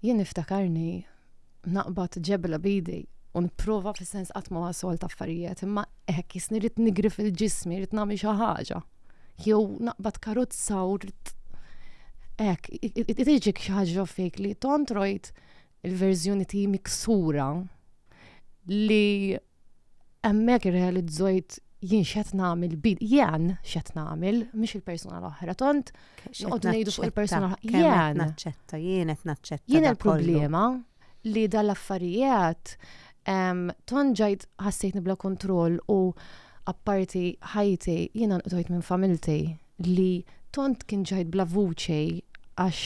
Jien niftakarni naqbad ġebla b'idi u nipprova fis-sens qatt ma wasolt affarijiet, imma hekk jisni rrid nigri fil-ġismi, rrid nagħmel xi ħaġa. Jew naqbad karozza u rrid hekk tiġik xi ħaġa fik li tontrojt il-verżjoni tiegħi miksura li Hemmhekk irrealizzojt jien x'qed nagħmel bil jien x'qed nagħmel mhux il-persuna l-oħra tont noqgħod ngħidu fuq il-persuna jien naċċetta jien qed naċċetta jien il-problema li dal-affarijiet ton ġajt ħassejtni bla kontroll u apparti ħajti jiena nqdojt minn familti li tont kien ġajt bla vuċi għax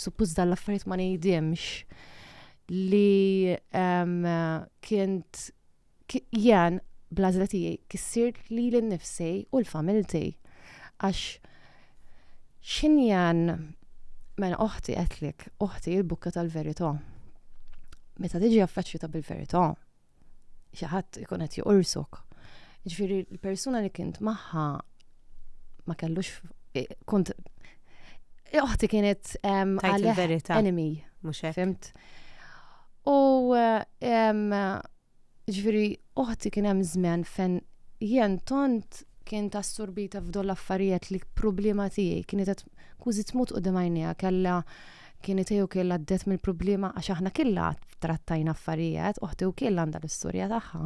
suppost dal-affarijiet ma ngħidimx li kient jien blażla tiegħi kissir li l-nifsi u l-familti. Għax xin jien mela oħti għetlik, oħti il-bukka tal-verità. Meta tiġi affeċċjuta bil-verità, xi ħadd ikun qed joqorsok. Ġifieri l-persuna li kint magħha ma kellux eh, kont eh, oħti kienet għalih enemy. Mhux hekk. Fimt. U eh, ġifieri oħti kien hemm żmen fejn jien tont kien tassurbita f'dol affarijiet li problema tiegħi kienet qed kużi tmut u dimajnija kella Kien itiju kiel għaddet mill-problema għax aħna killa trattajna affarijiet, uħti u kiel għanda l-istorja tagħha.